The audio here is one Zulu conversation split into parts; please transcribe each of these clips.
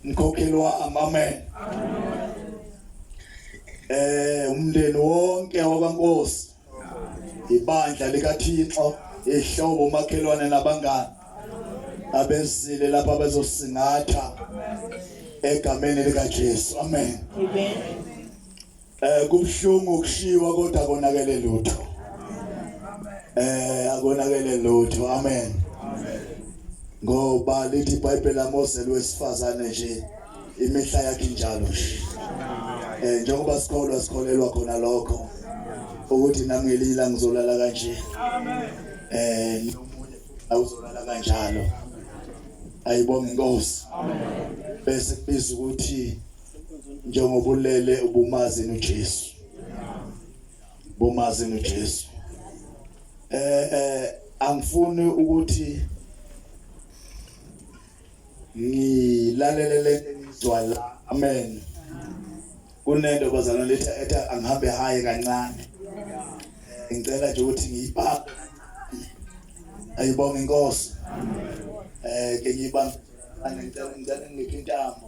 mkhokheli wami amen eh umndeni wonke wabankosi ibandla likaThixo ihlobo umakhelwane nabangani abezile lapha bezosingatha egameni likaJesu amen amen Eh kubuhlungu ukushiwa kodwa konakele lutho. Eh akonakele lutho. Amen. Ngoba lithi iBhayibheli laMose lwesifazane nje imihla yakhe njalo nje. Eh njengoba sikholwa sikholelwa khona lokho ukuthi nami ngelila ngizolala kanje. Amen. Eh nomunye awuzolala kanjalo. Ayibonge inkosi. Amen. Bese kubiza ukuthi njengoba ulele ubumazi noJesu bumazi noJesu eh eh angifuni ukuthi ngilalelele ngizwala amen kunento bazalwane lethi ethi angihambe haye kancane ngicela nje ukuthi ngiyibambe ayibonge inkosi eh ke ngiyibambe ngicela ngicela ngiphe intambo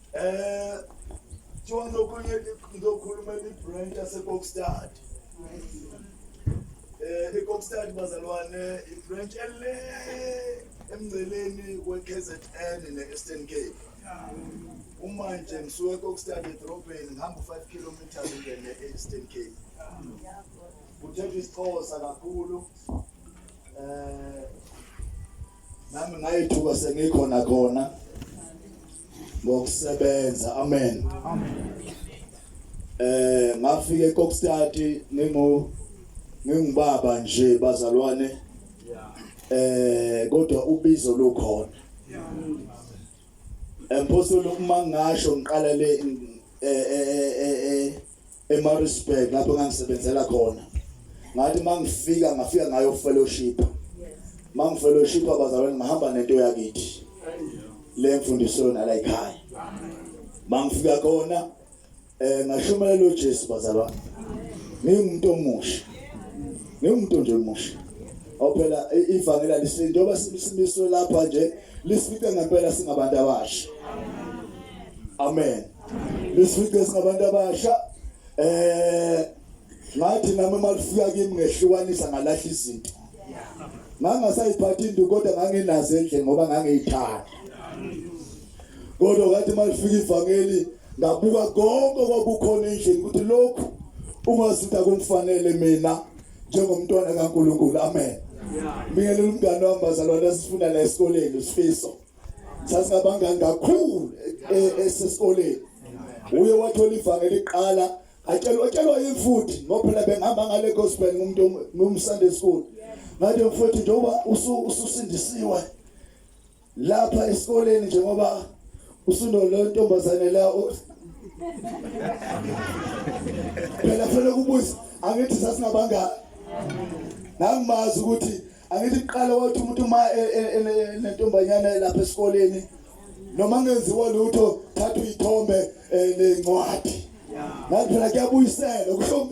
Eh kuthiwa ngizokhuluma ngizokhuluma ibranch yaseBokstad. Eh iBokstad bazalwane ibranch ele emngceleni weKZN neEastern Cape. Uma nje ngisuke eBokstad edrobheni ngihamba 5 km ngene eEastern Cape. Kuthetha isiXhosa kakhulu. Eh nami ngayithuka sengikhona khona ngokusebenza amen amen eh ngafika eKokstad ngingu ngingubaba nje bazalwane eh kodwa ubizo lukhona empostoli uma ngasho ngiqala le eh, eh, eh, eMaritzburg lapho ngangisebenzela khona ngathi mangifika ngafika ngayo fellowship mangifellowship abazalwane ngihamba nento yakithi le mfundiso yona la ekhaya mangifika khona eh ngashumayela uJesu bazalwane ngingumuntu omusha ngingumuntu nje omusha awuphela ivangela lisinto oba simiswe lapha nje lisifice ngempela singabantu abasha amen isizwe sabantu abasha eh ngathi nami malifika kimi ngehlukanisa ngalahla izinto ngangasayiphathi into kodwa nganginazo endle ngoba ngangiyithanda kodwa ngathi malifika ivangeli ngabuka konke kwakukhona endlini ukuthi lokhu ungazinta kumfanele mina njengomntwana kaNkuluNkulu amen Mina lomngane wami bazalwane sifunda la esikoleni usifiso sasabanga kakhulu e, e, esesikoleni uye wathola ivangeli iqala atshelwa atshelwa imfuthi ngoba phela bengihamba ngale gospel ngumuntu ngum Sunday school ngathi mfowethu njengoba ususindisiwe lapha esikoleni njengoba usuno lo ntombazane la phela phela kubuza angithi sasingabangani nangimazi ukuthi angithi kuqala wathi umuntu uma e, e, e, nentombanyana lapha esikoleni noma ngenziwa lutho thatha uyithombe nencwadi ngathi phela kuyabuyisela kusho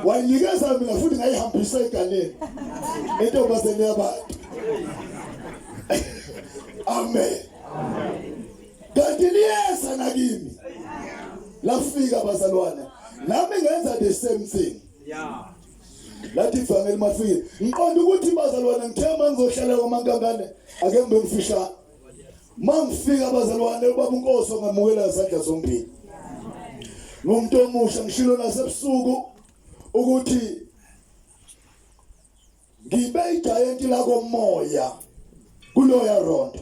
wayinikeza mina futhi ngayihambisa eganeni entombazeni yabantu amen kanti liyeza nakimi lafika bazalwane nami ngenza the same thing yeah lathi ivangeli mafike ngiqonda ukuthi bazalwane ngithe uma ngizohlala kwamankangane ake ngibe ngifishane uma ngifika abazalwane ubaba unkosi ongamukela ngezandla zombili ngumuntu omusha ngishilo nasebusuku ukuthi ngibe ijayenti lakomoya kuloya rondo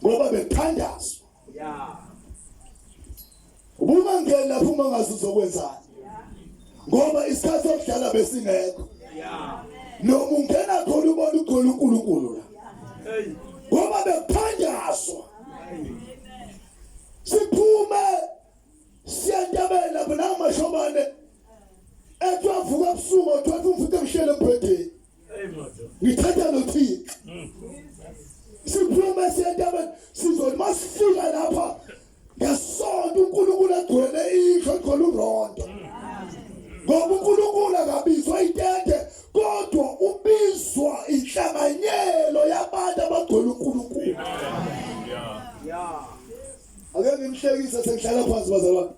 ngoba bethandazwa Yeah. Uma ngeke lapho uma ngazi uzokwenzani. Ngoba isikhathi sokudlala besingekho. Yeah. Noma ungena khona ubona ugcwele uNkulunkulu la. Hey. Ngoba bekuphanjaswa. Siphume siyantabela lapho namashombane. Ethu avuka ebusuku othu umfuthe emshele embhedeni. ngithetha nothixo siphuma siyentabeni sizothi masifika lapha ngesonto unkulunkulu agcwele indlu egcwele urondo ngoba unkulunkulu akabizwa itente kodwa ubizwa inhlanganyelo yabantu abagcwele unkulunkulu ake ngimhlekise sengihlala phansi bazalwane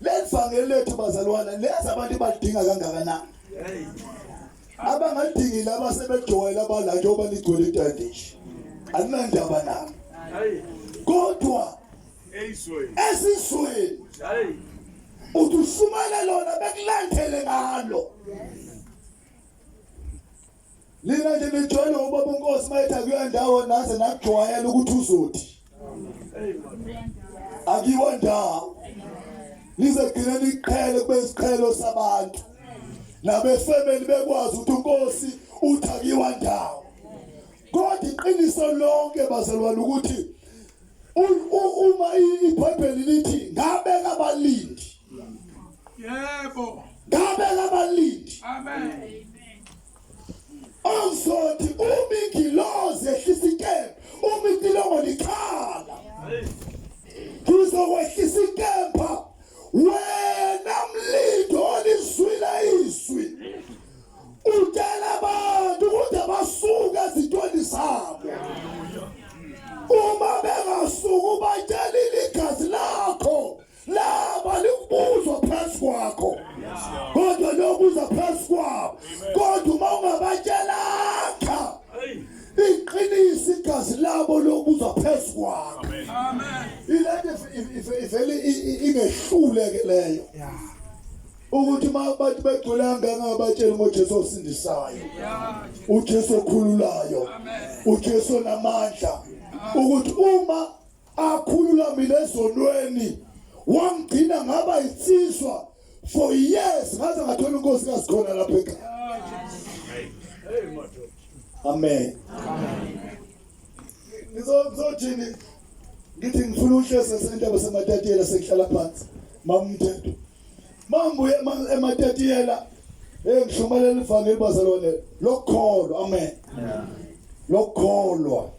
Lelivangeli lethu bazalwana leza abantu badinga kangakanani? Abangadingi laba sebejwayela abala njengoba ligcwele itandish. Alinandaba nabo. Kodwa esizweni uthi usumele lona bekulandele ngalo. Lina nje nijwayele ubaba uNkosi mayethi akuya ndawo naze nakujwayela ukuthi uzothi. Akiwa ndawo. Lize gcina liqhele kube isiqhelo sabantu. Nabefemeli bekwazi ukuthi uNkosi uthi akiwa ndawo. Kodwa iqiniso lonke bazalwane ukuthi uma iBhayibheli lithi ngabeka abalindi yebo ngabe labalindi amen awuzothi uma ingilozi ehlisa ikembe uma itilongo likhala ngizokwehlisa ikemba wena mlindi olizwile izwi utshela abantu ukuthi abasuke ezintweni zabo uma bengasuki ubatshela iligazi lakho laba limbuzwa phezu kwakho kodwa lokuza phezu kwabo kodwa uma ungabatshelanga iqinisa igazi labo lokuza phezu kwakho ilento ivele ingehlule ke leyo ukuthi uma abantu begcwele angangabatsheli ngojesu osindisayo ujesu okhululayo ujesu onamandla ukuthi uma akhululamile ezonweni wangigcina ngaba insizwa for years ngaze ngathola inkosi kazikhona lapha ekhaya amen ngizothini ngithi ngifuna uhlese sentaba sematatiyela sekuhlala phansi mamthetho mambuye ematatiyela hey ngishumayela ivangeli bazalwane lokholwa amen lokholwa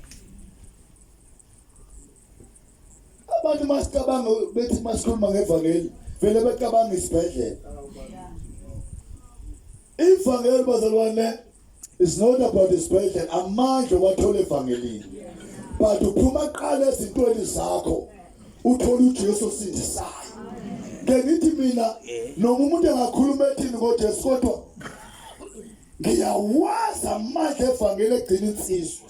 abantu masicabanga bethi masikhuluma ngevangeli vele becabanga isibhedlela ivangeli bazalwane is not about isibhedlela amandla wathola evangelini but uphuma qala ezintweni zakho uthola uJesu sindisayo ke ngithi mina noma umuntu engakhuluma ethini ngoJesu kodwa ngiyawazi amandla evangeli egcina insizwa